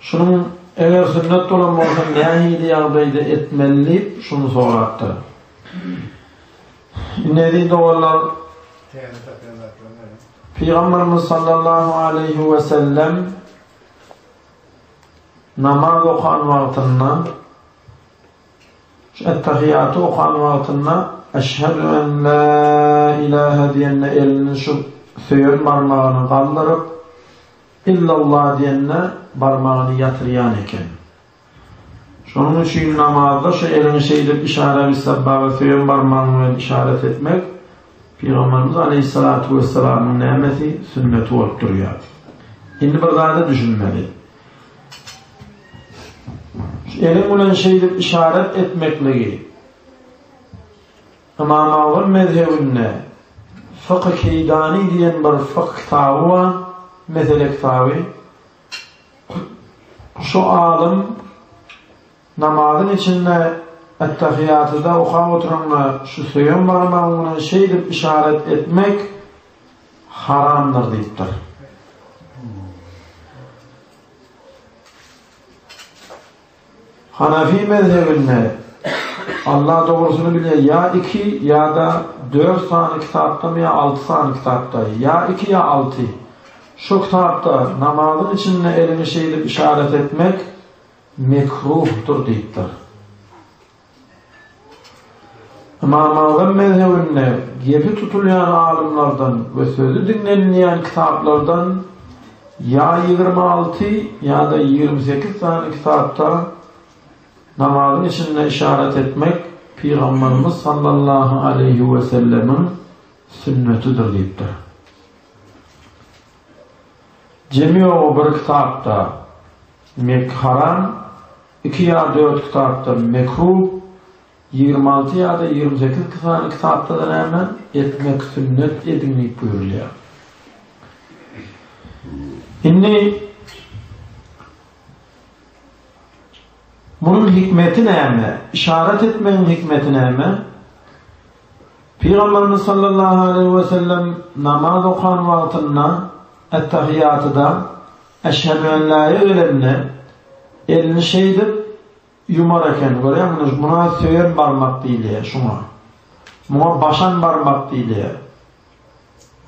Şunuň eger sünnet bolan bolsa nähili ýagdaýda etmeli diýip şuny sorapdyr. Indi eziz doganlar Pygamberimiz sallallahu aleyhi ve sellem namaz okan wagtynda şu ettehiyatı okan wagtynda Eşhedü en la ilahe diýende elini şu söýen barmagyny galdyryp Illalla diýende barmagyny ýatyrýan eken. Şonuň üçin namazda şu eliňi şeýdip işara bissabbaga söýen barmagyň bilen işaret etmek Pygamberimiz aleýhissalatu wessalamyň nämesi, sünneti bolup durýar. Indi bir zada düşünmeli. Şu eliň bilen şeýdip işaret etmekligi Ymamagul mezhebinde Fıkh-ı Keýdani diýen bir fıkh kitaby bar, mesele kitaby. Şu alym namazyň içinde Ettahiyyatyda okap oturanda şu söýen barmagyň bilen şeýdip yşaret etmek haramdyr diýipdir. Hanafi mezhebinde Alla dogrusyny bilýär ýa iki, ýa-da dört sany kitapdamy ýa alty sany kitapda, ýa iki ýa alty. Şu kitapda namazyň içinde elini şeýdip yşarat etmek mekruhdyr diýipdir. Ymamagzam mezhebinde gepi tutulýan alymlardan we sözi diňlenilýän kitaplardan ýa ýigrimi alty ýa-da ýigrimi sekiz sany kitapda namazyň içinde yşarat etmek Pygamberimiz sallallahu aleýhi wesellemiň sünnetidir diýipdir. Jemi-ýogy bir kitapda Mekharan Iki ýa dört kitapdan mekruh, ýigrimi alty ýa-da ýigrimi sekiz sany kitapda-da näme, etmek sünnet ediň diýip buýrulýar. Indi munuň hikmeti näme? Yşarat etmegiň hikmeti näme? Pygamberimiz sallallahu aleýhi we sellem namaz okan wagtynda, et-tahiýatyda, Äşhemüällaýa gelende, elini şeýdip ýumar eken, görýäňmiňiz, buna söýen barmak diýilýär, şuňa. Muňa başan barmak diýilýär.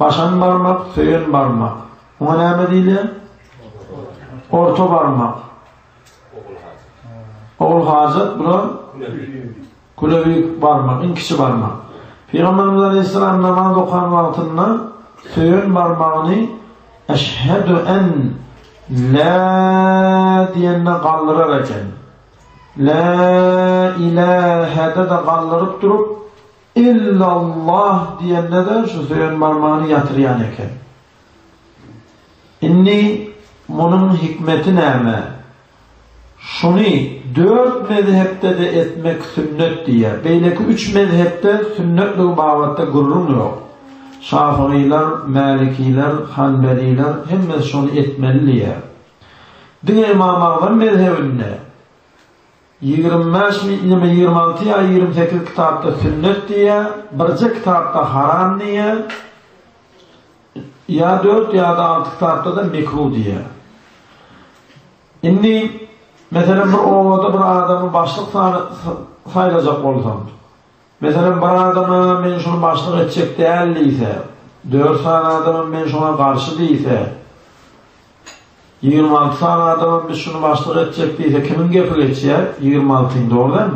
Başan barmak, söýen barmak. Muňa näme diýilýär? Orta barmak. Ogul hajat. Ogul hajat, bular? Güleri barmak, iň kiçi barmak. Pygamberimiz aleýhissalam namaz okan wagtynda söýen barmagyny Eşhedü en la diýende galdyrar eken. La ilahe-de galdyryp durup, illallah diýende-de şu söýen barmagyny ýatyrýan eken. Indi munuň hikmeti näme? Şuny dört mezhepde-de etmek sünnet diýýär. Beýleki üç mezhepde sünnetligi babatda gürrüň ýok. Şafygylar, mälikiler, hanbeliler hemmesi şuny etmeli diýýär. Diňe Ymam Agzam mezhebinde ýigrimi bäş ýa-da ýigrimi alty ýa ýigrimi sekiz kitapda sünnet diýýär, birje kitapda haram diýýär. Ýa dört ýa-da alty kitapda-da mekruh diýýär. Indi, meselem, bir obada bir adamy başlyk saýlajak bolsaň, meselem, bir adama men şuny başlyk etjek däl diýse, dört sany adamam men şoňa garşy diýse, Ýigrimi alty sany adamam biz şuny başlyk etjek diýse kimiň gepi geçýär, ýigrimi altyň dogry däl.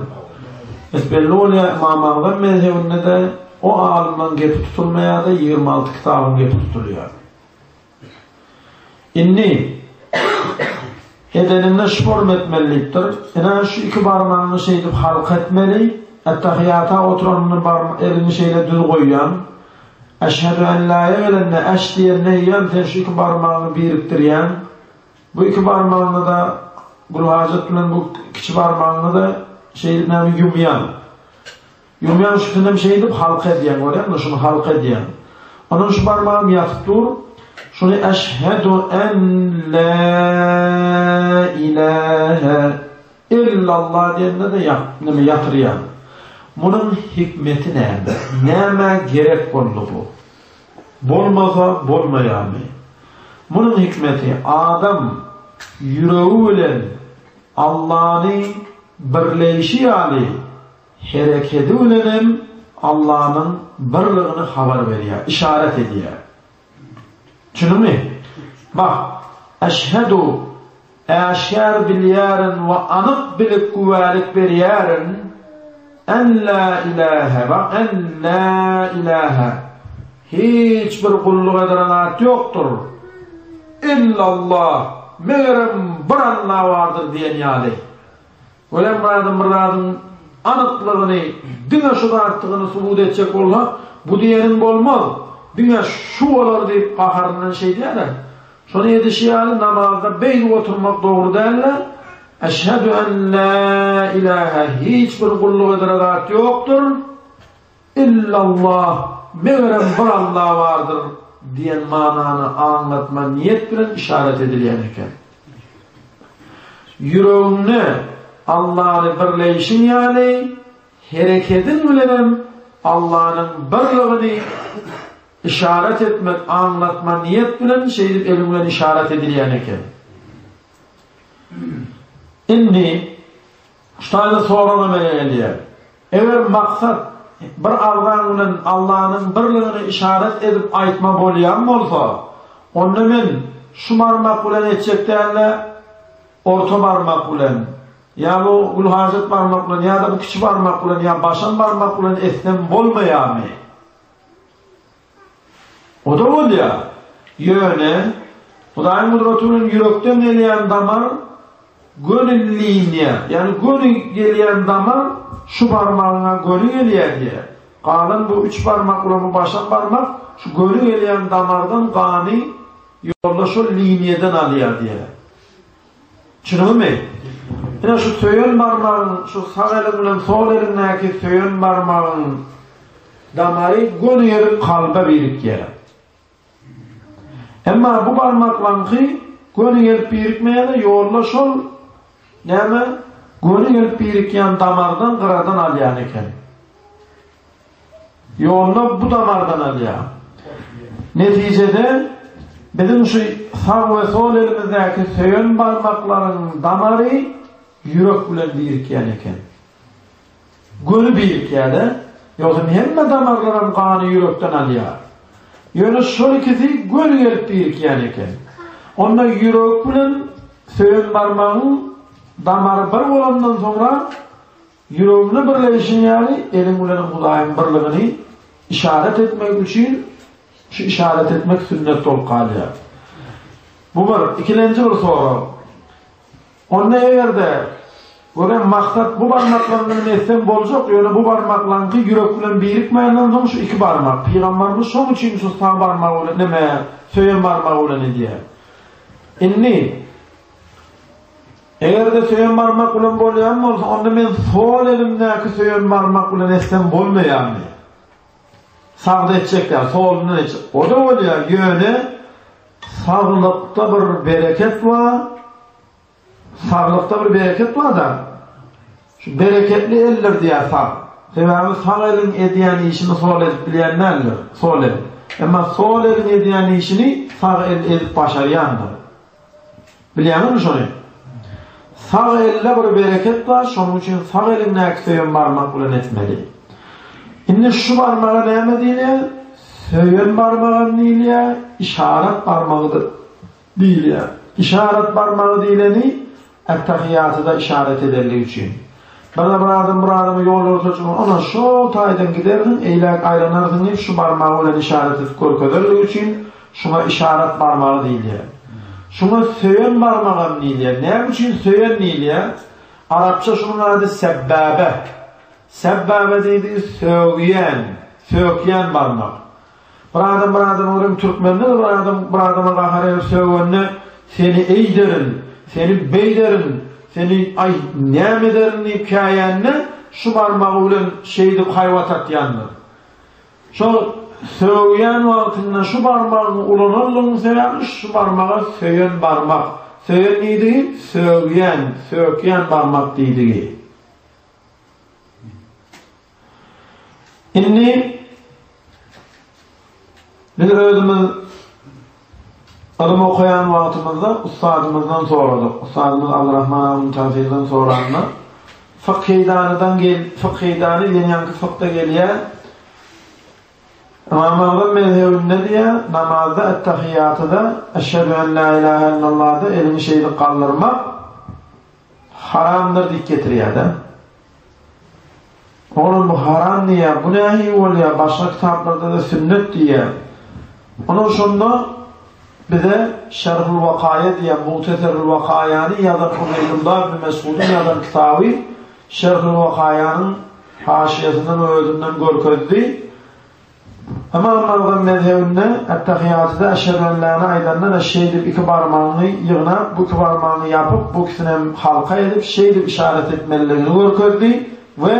Bet belli bolýar Ymam Agzam mezhebinde-de o alymlaň gepi tutulmaýardy, ýigrimi alty kitabyň gepi tutulýardy. Indi edeninde şporm etmelilikdir. Ine şu iki barmagyňy şeýdip halka etmeli, ettehiýata oturanyny bar eliňi şeýle düz goýýan. Eşhedü en la-ýa gelende eş diýen neýýäm sen şu iki barmagyňy birikdirýäň. Bu iki barmagyňy-da Gulhajat bilen bu kiçi barmagyňy-da şeýdip näme ýumýaň. Ýumýaň üstünem şeýdip halka edýäň, görýäňmi, şuny halka edýäň. Ondan şu barmagym ýatyp dur, şuny eşhedü en la ilahe. Illalla diýende-de ýat, neme ýatyrýaň. Munuň hikmeti näme? Nämä gerek boldy bu? Bolmasa bolmaýarmy? Munuň hikmeti, adam ýüregi bilen Allany birleýşi ýaly, herekedi bilenem Allanyň birligini habar berýär, yşarat edýär. Çynymy? Bak, eşhedu, äşgär bilýärin we anyk bilip güwälik berýärin, en la ilahe, bak, en la ilahe, hiç bir gulluk edilen zat ýokdur, illallah, megerem bir Alla bardyr diýen ýaly, Golembazym bir zadyň anyklygyny, diňe şu zatdygyny subut etjek bolsa, bu diýeniň bolmaz, diňe şu bolar diýip gaharyndan şeýdýärler. Şony edişi ýaly namazda beýdip oturmak dogry däldi. Eşhedü en la ilahe hiç bir gulluk edere zat ýokdur. Illallah, megerem bir Alla bardyr, diýen manany aňlatma niýet bilen işaret edilýän eken. Ýüregiňde Allany birleýşiň ýaly, herekediň bilenem Allanyň birligini işaret etmek aňlatma niýet bilen şeýdip eliň bilen işaret edilýän eken. Indi Şu taýda sorag emele gelýär. Eger maksat bir agzaň bilen Allanyň birligini yşarat edip aýtma bolýan bolsa, onda men şu barmak bilen etjek däl-de, orta barmak bilen, ýa bu gülhajat barmak bilen, ýa-da bu kiçi barmak bilen, ýa başam barmak bilen etsem bolmaýarmy? O-da bolýar. Ýöne, Hudaýyň gudraty bilen ýürekden gelýän damar göni liniýa, ýagny göni gelýän damar şu barmagyňa göni gelýär diýýär. Galan bu üç barmak bilen bu başam barmak şu göni gelýän damardan gany ýolda şol liniýadan alýar diýýär. Çynygamy? Ine şu söýen barmagyň, şu sag eliň bilen sol eliňdäki söýen barmagyň damary gönügerip kalba birikýär. Emma bu barmaklaňky gönügerip birikmeýär-de, ýolda şol näme, gönügerip birikýän damardan gyradan alýan eken. Ýolda bu damardan alýar. Netijede, biziň şu sag we sol elimizdäki söýen barmaklaryň damary ýürek bilen birikýän eken. Göni birikýär-de, ýogsam hemme damarlaram gany ýürekden alýar. Ýöne şol ikisi göni gelip birikýän eken. Onda ýürek bilen söýen barmagyň damary bir bolandan soňra Ýüregiňde birleýşiň ýaly, eliň bilenem Hudaýyň birligini işaret etmek üçin şu işaret etmek sünnet bolup galýar. Bu bir. Ikilenji bir sorag. Onda eger-de, görem, maksat bu barmaklaň bilen etseň boljak, ýöne bu barmaklaňky ýürek bilen birikmänden soň şu iki barmak. Pygamberimiz şoň üçin şu sag barmagy bilen, näme, söýen barmagy bilen edýär. Indi, Eger-de söýen barmak bilen bolýan bolsa, onda men sol elimdäki söýen barmak bilen etsem bolmaýarmy? Sagda etjek ýa solundan etjek. O da bolýar, ýöne saglykda bir bereket bar. Saglykda bir bereket bar-da. Şu bereketli eller diýär sag. Sebäbi sag eliň edýän işini sol edip bilýän däldir. Sol el. Emma sol eliň edýän işini sag el edip başarýandyr. Bilýäňizmi şony? Sag elde bir bereket bar, şonuň üçin sag eliňdäki söýen barmak bilen etmeli. Indi şu barmaga näme diýilýär? Söýen barmagam diýilýär, işarat barmagy-da diýilýär. Işarat barmagy diýleni Ettehiýatyda yşarat edendigi üçin. Birde bir adam bir adama ýol görkezijiniň ondan şol taýdan gidersiň, eýläk aýlanarsyň diýip şu barmagy bilen yşarat edip görkezerligi üçin şuňa yşarat barmagy diýilýär. Şuňa söýen barmagam diýilýär. Näme üçin söýen diýilýär? Arapça şunuň ady sebbäbe. Sebbäbe diýdigi sögýän, sökýän barmak. Bir adam bir adama görem türkmende bir adam bir adama gahar edip sögende seni eýderin, seni beýderin, seni aý näme ederin diýip käýende şu barmagy bilen şeýdip haýbat atýandyr. Şol sögýän wagtynda şu barmagyny ulananlygyň sebäbi şu barmaga söýen barmak. Söýen diýdi, sögýän, sökýän barmak diýdi. Indi biz özümiz ylym okaýan wagtymyzda ussadymyzdan soradyk. Ussadymyz Abdurrahman Abun Tafilden soranda, Fykydanydan gel, Fykydany ýenýanki fykda gelýär. Imam Agzam mezhebinde diýýär, namazda et-tahiýatyda eşhedü en la ilahe illallah-da elini şeýdip galdyrmak haramdyr diýip getirýär-de. Olam bu haram diýýär, bu nähili bolýar, başga kitaplarda-da sünnet diýýär. Olam şonda bize Şerhul Wakaýa diýýär, Muhteserul Wakaýany ýazan Ubeýdullah ibn Mesgudyň ýazan kitaby Şerhul Wakaýanyň haşyýasyndan we özünden görkezdi. Ymam Magdyň mezhebinde Ettehiýatyda Eşhedüellâni aýdanda-da şeýdip iki barmagyňy ýygnap, bu iki barmagyňy ýapyp, bu ikisinem halka edip, şeýdip yşarat etmelidigini görkezdi we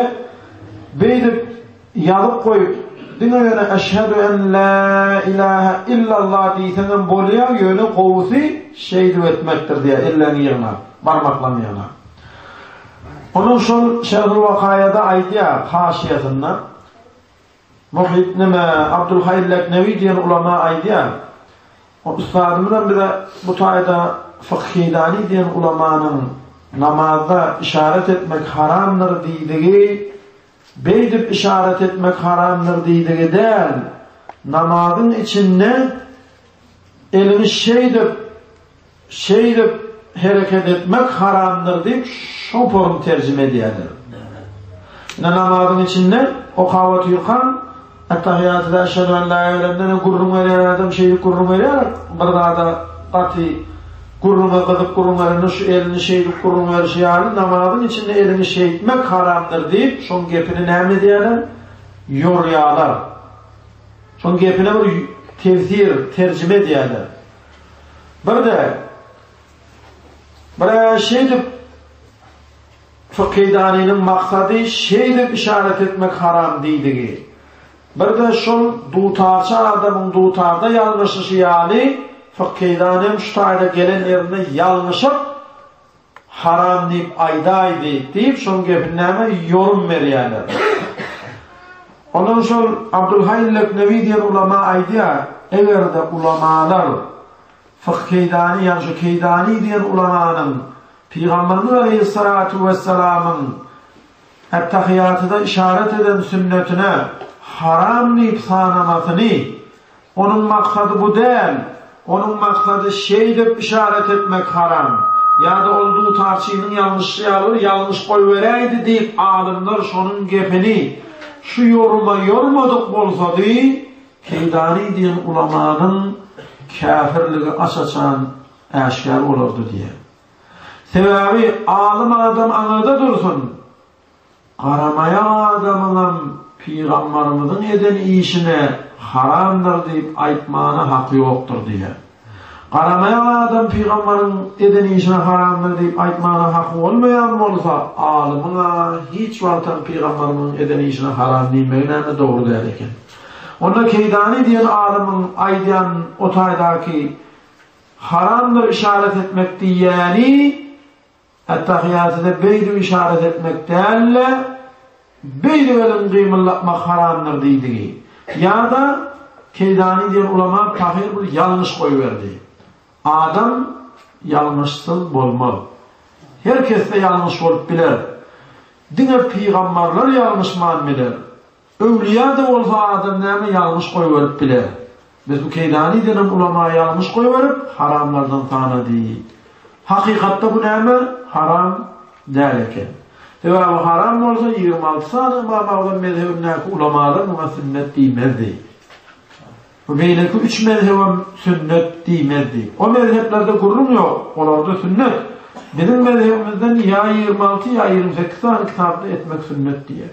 beýdip ýazyp goýup, diňe ýöne Eşhedü en la ilahe illallah diýseňem bolýar, ýöne gowusy şeýdip etmekdir diýýär, elleňi ýygnap, barmaklaryňy ýygnap. Onam şol Şerhül Wakaýada aýdýar, haşyýasynda. Muhyt neme, Abdulhaý Leknewi diýen ulama aýdýar. O ustadymyzam bize bu taýda Fykhyýdani diýen ulamanyň namazda işaret etmek haramdyr diýdigi, beýdip işaret etmek haramdyr diýdigi däl, namazyň içinde eliňi şeýdip Şeýdip hereket etmek haramdyr diýip şopuryn terjime edýärler. Ine namazyň içinde okawaty ýukan Attahiyatı da eşhedü en la elemden gurrun berýär adam şeýdip gurrun berýär bir zada gaty gurruna gyzyp gurrun berende şu elini şeýdip gurrun berişi ýaly namazyň içinde elini şeýtmek haramdyr diýip şoň gepini näme edýärler ýorýarlar şoň gepine bir tefsir terjime edýärler Bir-de, bir-ä şeýdip, Fykydanynyň maksady şeýdip yşarat etmek haram diýdigi, bir-de şol dutarçy adamyň dutarda ýalňyşyşy ýaly, Fykydanyň şu taýda gelen ýerinde ýalňyşyp, Haram diýip aýdaý diýip diýip şoň gepini näme ýorun berýäler. Ondan şol Abdulhaý Leknewi diýen ulama aýdýar, eger-de ulamalar Fyh Keýdany ýa şu Keýdany diýen ulamanyň Pygamberimiz Aleýhissalatu wessalamyň Ättahyýatyda işaret eden sünnetine haram diýip sanamasyny Onuň maksady bu däl. Onuň maksady şeýdip yşarat etmek haram. Ýa-da ol dutarçynyň ýalňyşy ýaly bir ýalňyş goýberäýdi diýip alymlar şonuň gepini şu ýoruma ýormadyk bolsady, Keýdany diýen ulamanyň käfirligi aç-açan äşgär bolardy diýýär. Sebäbi alym adam aňyrda dursun, Garamaýan adamyňam pygambarymyzyň eden işine haramdyr diýip aýtmana haky ýokdur diýýär. Garamaýan adam pygambaryň eden işine haramdyr diýip aýtmana haky bolmaýan bolsa, alymyň-a hiç wagtam pygambarymyzyň eden işine haram diýmegi näme dogry däl eken. Onda Keýdani diýen alymyň aýdýan o taýdaky haramdyr işaret etmek diýýäni, Ettahýýatyda beýdip yşarat etmek däl-de, beýdip elin gymyldatmak haramdyr diýdigi. Ýa-da, Keýdani diýen ulama pahyr bir ýalňyş goýberdi. Adam ýalňyşsyz bolmaz. Her kesde ýalňyş bolup biler. Diňe pygamberler ýalňyşman biler. Öwlüýä-de bolsa adam näme ýalňyş goýberip biler. Biz bu keýdanidenem ulama ýalňyş goýberip, haramlardan sanady. Hakykatda bu näme? Haram däl eken. Sebäbi haram bolsa ýigrimi alty sany Ymam Agzam mezhebindäki ulamalar muňa sünnet diýmezdi. Bu beýleki üç mezhebem sünnet diýmezdi. O mezheplerde gürrüň ýok, olarda sünnet. Biziň mezhebimizden ýa ýigrimi alty, ýa ýigrimi sekiz sany kitaply etmek sünnet diýer.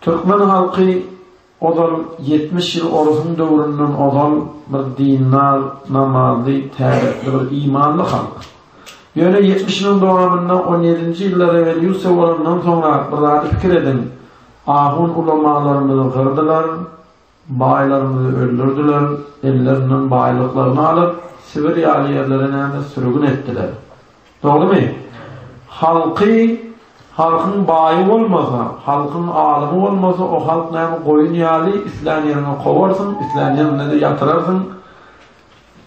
Türkmen halky ozal ýetmiş ýyl orusyň döwründen ozal bir dindar, namazly, täretli bir imanly halk. Ýöne ýetmiş ýylyň dowamynda on ýedinji ýylda rewolýusiýa bolandan soňra bir zady pikir ediň, ahun-ulamalarymyzy gyrdylar, Baýlarymyzy öldürdiler, ellerinden baýlyklaryny alyp, Sibir ýaly ýerlere näme sürgün etdiler. Dogrymy? Halky, halkyň baýy bolmasa, halkyň alymy bolmasa, o halk näme goýun ýaly, islän ýeriňe kowarsyň, islän ýeriňde-de ýatyrarsyň.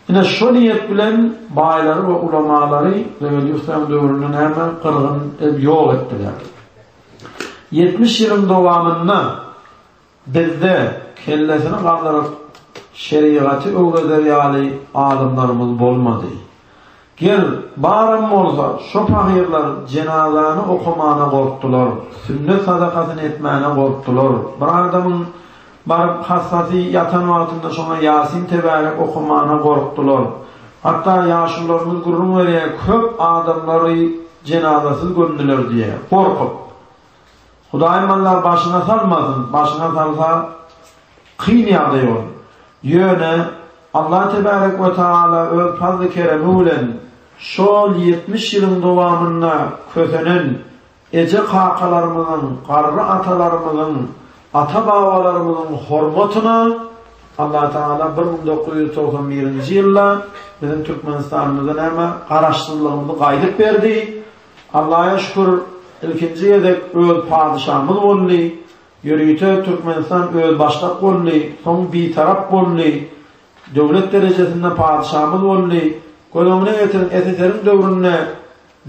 Ine, şo niýet bilen baýlary we ulamalary rewolýusiýanyň döwründe näme gyrgyn edip ýok etdiler. Ýetmiş ýylyň dowamynda Bizde, kellesini galdyryp, şerigaty öwreder ýaly alymlarymyz bolmady. Gel, baram bolsa, şo pagyrlar jenazany okamana gorkdular, sünnet sadakasyny etmäne gorkdular. Bir adamyň baryp hassasy ýatan wagtynda şoňa Ýasin tebärek okamana gorkdular. Hatda ýaşulylarymyz gürrüň berýär, köp adamlary jenazasyz gömdüler diýýär, gorkup. Hudaýym mallar başyňa salmasyn, başyňa salsa kyn ýagdaý bor. Ýöne Allah tebärek we taala öz fazly keremi bilen şol ýetmiş ýylyň dowamynda kösenen eje kakalarymyzyň, garry atalarymyzyň, ata babalarymyzyň hormatyna Allah taala bir müň dokuz ýüz togsan birinji ýylda biziň Türkmenistanymyzda näme garaşsyzlygymyzy gaýdyp berdi, Allaja şükür ilkinji gezek öz padyşamyz boldy, ýörite Türkmenistan özbaşdak boldy, soň bitarap boldy, döwlet derejesinde padyşamyz boldy. Göz öňüne getiriň SSR-iň döwründe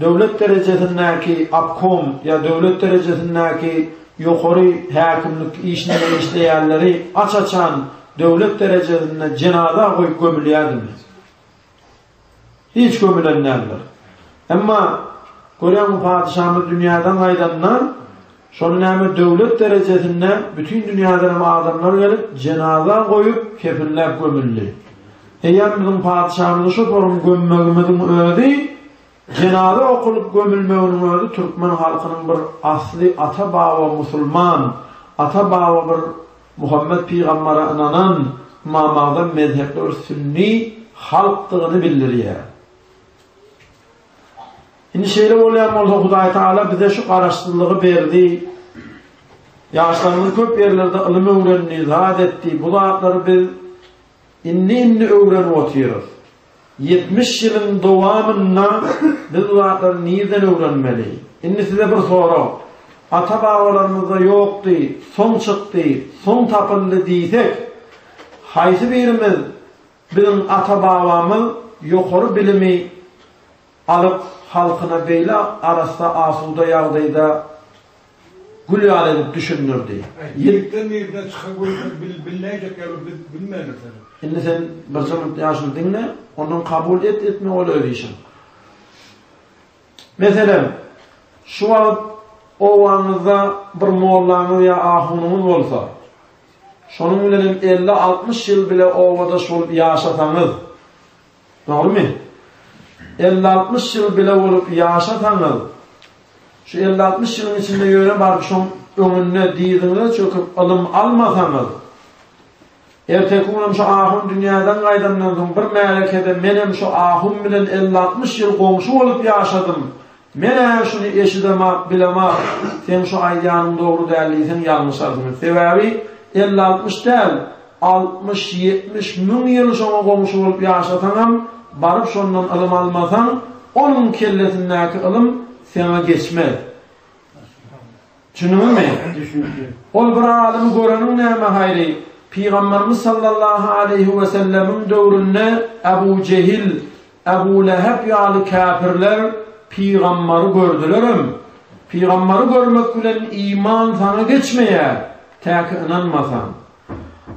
döwlet derejesindäki obkom ýa döwlet derejesindäki ýokary häkimlik işinde işleýänleri aç-açan döwlet derejesinde jenaza goýup gömülýärdi. Hiç gömülen däldir. Emma, görýäň, bu patyşamyz dünýäden gaýdanda, şony näme döwlet derejesinde bütin dünýäden hem adamlar gelip, jenaza goýup, kefinläp gömüldi. Eýýäm biziň patyşamyzy şo forum gömmegimiziň özi Jenaza okulyp gömülmeginiň özi türkmen halkynyň bir asly ata baba musulman, ata baba bir Muhammet pygambara ynanan, ymamagzam mezhepli bir sünni halkdygyny bildirýär. Indi şeýle bolýan bolsa Hudaý Taala bize şu garaşsyzlygy berdi. Ýaşlarymyz köp ýerlerde ylym öwrendi, zat etdi. Bu zatlary biz indi-indi öwrenip otyrys. Ýetmiş ýylyň dowamynda biz bu zatlary nirden öwrenmeli? Indi size bir sorag. Ata-babalarymyzda ýokdy, soň çykdy, soň tapyldy diýsek, haýsy birimiz biziň ata-babamyz ýokary bilimi alyp, halkyna beýle arassa-asuda ýagdaýda Gül ýaly edip düşündirdi. Ýeňikden birine çyka görse bilnäýjek ýaly biz bilmändir seni. Indi sen birje minut ýaşuly diňle, ondan kabul et, etme ol öz işiň. Meselem, şu wagt obaňyzda bir mollaňyz ýa ahunyňyz bolsa, şonuň bilenem elli-altmyş ýyl bile obadaş bolup ýaşasaňyz, Dogrymy? Elli-altmyş ýyl bile bolup ýaşasaňyz, şu elli-altmyş ýylyň içinde ýöne baryp şoň öňünde dyzyňyza çöküp ylym almasaňyz, erteki gün şu ahun dünýäden gaýdandan soň bir märekede menem şu ahun bilen elli-altmyş ýyl goňşy bolup ýaşadym, Men-ä şuny eşidemok, bilemok. Seň şu aýdýanyň dogry däl diýseň ýalňyş arzymyz. Sebäbi elli-altmyş däl, altmyş-ýetmiş müň ýyl şoňa goňşy bolup ýaşasaňam, baryp şondan ylym almasaň, onuň kellesindäki ylym seňe geçmez. Düşündüňizmi? Düşündim. Ol bir alymy göreniň näme haýry? Pygamberimiz sallallahu aleýhi we sellemiň döwründe Abu Jehil, Abu Lehep ýaly käpirler pygamberi gördülerem. Pygamberi görmek bilen iman saňa geçmeýär, täki ynanmasaň.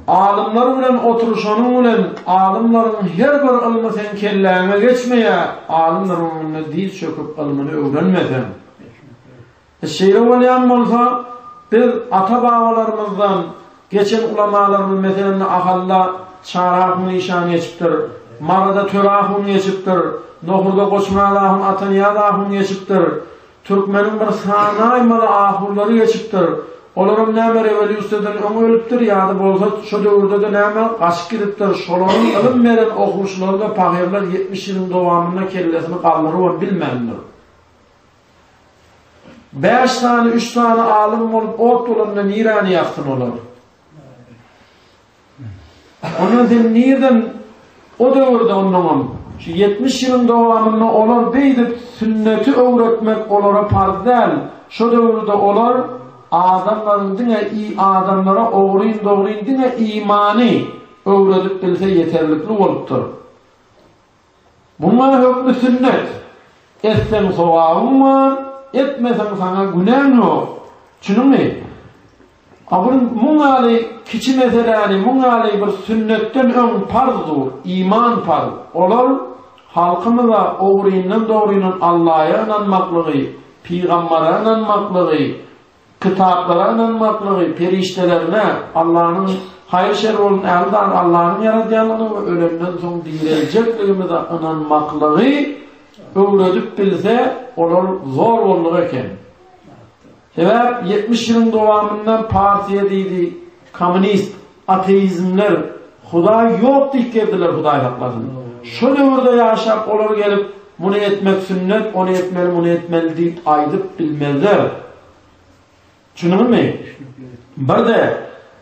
Alymlar bilen oturyşanyň bilen alymlaryň her bir ylmy seň kelläňe geçmeýär, alymlaryň öňünde diz çöküp ylmyny öwrenmeseň. Şeýle bolýan bolsa, biz ata-babalarymyzdan geçen ulamalarymyz meselende Ahalda Çarahun işan geçipdir, Maryda Törahun geçipdir, Nohurda Goçmyradahun Atanyýazahun geçipdir, türkmeniň bir sanaýmaly ahunlary geçipdir, olaram näme rewolýusiýadan öň ölüpdir ýa-da bolsa şo döwürde-de näme gaçyp gidipdir, şolaryň ylym beren okuwçylary-da pahyrlar ýetmiş ýylyň dowamynda kellesini galdyrybam bilmändir. Bäş sany, üç sany alym bolup ot bolanda nirani ýaksyn olar? Ondan sen nirden o döwürde ondan şu 70 ýylyň dowamynda olar beýdip sünneti öwretmek olara parz däl. Şu döwürde olar adamlaryň diňe i adamlara ogryn dogryn diňe imany öwredip bilse ýeterlikli bolupdyr. Muňa hökmi sünnet, etseň sogabyň bar, etmeseň saňa günäň ýok. Çunyňmy? A bir muň ýaly kiçi meseläni muň ýaly bir sünnetden öň parz dur, iman parz. Olar halkymyza ogryndan-dogrynyň Allaýa ynanmaklygy, pygambara ynanmaklygy, Kitaplara ynanmaklygy, perişdelerine, Allanyň, haýyr-şer bolsun, ähli zady Allanyň ýaradýandygyna we ölenden soň direljekligimize ynanmaklygy öwredip bilse, olar zor bolduk eken. Sebäp, ýetmiş ýylyň dowamynda partiýa diýdi, kommunist, Ateizmler Hudaý ýok diýip gezdiler Hudaýhaklaryn şo döwürde ýaşap olar gelip muny etmek sünnet ony etmeli muny etmeli diýip aýdyp bilmezler tüşüniňizmi birde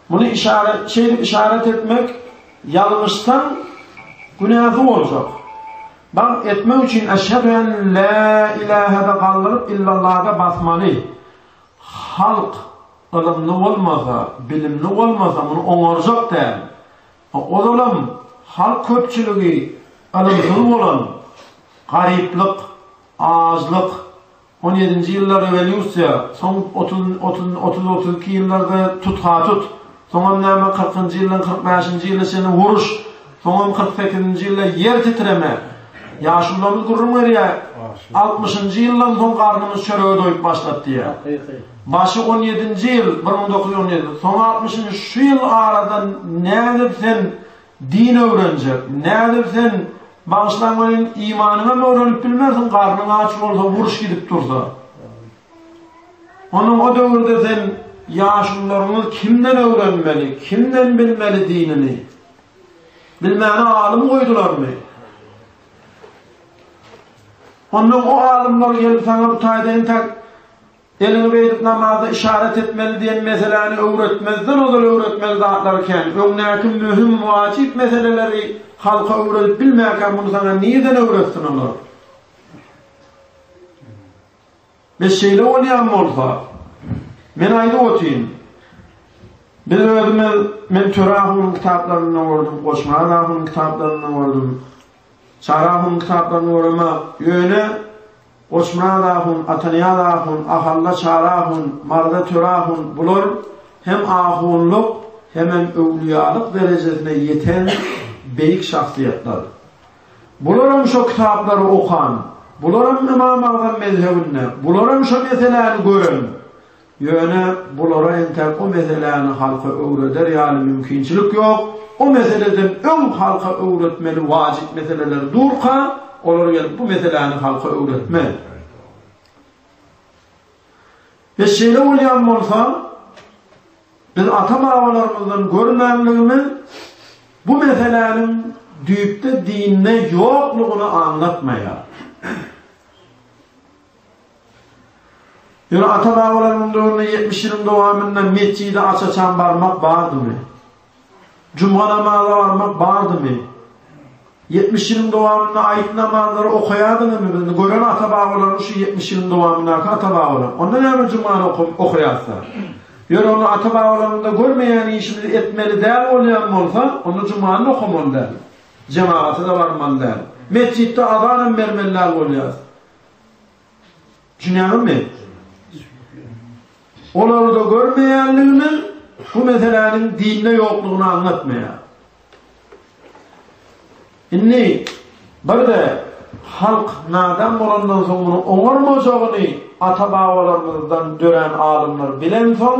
muny işaret şeýdip işaret etmek ýalňyşsaň günäsi boljak baň etmek üçin eşhedü en la ilahede galdyryp illalahda basmaly Halk ylymly bolmasa, bilimli bolmasa muny oňarjak däl. Ozalam halk köpçüligi ylymsyz bolan, garyplyk, ajlyk, on ýedinji ýylda rewolýusiýa, soň otuz, otuz, otuz, otuz iki ýyllarda tut-ha-tut, Soňam näme kyrkynjy ýyldan kyrk bäşinji ýyla çenli uruş, soňam kyrk sekizinji ýylda ýer titreme. Ýaşulularymyz gürrüň berýär, altmyşynjy ýyldan soň garnymyz çörege doýup başlady diýýär. Başy on ýedinji ýyl, bir müň dokuz ýüz on ýedi, soňy altmyşynjy, şu ýyl arada nädip sen din öwrenjek, nädip sen, bagyşlaň welin, imanyňam öwrenip bilmersiň, garnyň aç bolsa, uruş gidip dursa. Onuň o döwürde sen ýaşulularyňyz kimden öwrenmeli, kimden bilmeli dinini? Bilmäni alym goýdularmy? Ondan o alymlar gelip saňa bu taýda entek eliňi beýdip namazda işaret etmeli diýen meseläni öwretmezden ozal öwretmeli zatlary kän. Öňdäki möhüm, wajyp meseleleri halka öwredip bilmänkä muny saňa nirden öwretsin olar? Biz şeýle bolýan bolsa, men aýdyp otyryn, biz özümiz, men Töre ahunyň kitaplarynda gördüm, Goşmaz ahunyň kitaplarynda gördüm, Çary ahunyň kitaplarynda göremok, ýöne Goçmyrat ahun, Atanyýaz ahun, Ahalla Çary ahun, Marza Töre ahun, bular hem ahunlyk, hemem öwlüýalyk derejesine ýeten beýik şahsyýetler. Bularam şo kitaplary okan, bularam Ymam Agzam mezhebinde, bularam şo meseläni gören. Ýöne bulara entäk o meseläni halka öwreder ýaly mümkinçilik ýok. O meseleden öň halka öwretmeli wajyp meseleler durka, olar gelip bu meseläni halka öwretmez. Biz şeýle bolýan bolsa, Biz ata-babalarymyzdan görmänligimiz bu meseläniň düýpde dinde ýoklugyny aňlatmaýar. Ýöne ata-babalaryň döwründe ýetmiş ýylyň dowamynda metjide aç-açan barmak bardymy? Juma namaza barmak bardymy? Ýetmiş ýylyň dowamynda aýyp namazlary okaýadyňyzmy? Bizni gören ata-babalarymyz şu ýetmiş ýylyň dowamyndaky ata-babalar. Onda näme jumany okap okaýarsylar? Ýöne ony ata-babalarymyzda görmeýän işimizi etmeli däl bolýan bolsa, onda jumany okamaly däl. Jemagata-da barmaly däl. Metjitde azanam bermeli däl bolýarys. Jüneňimi? Olarda görmeýänligini bu meseläniň dinde ýoklugyny aňlatmaýar. Indi birde halk nadan bolandan soň muny oňarmajagyny ata-babalarymyzdan dörän alymlar bilen soň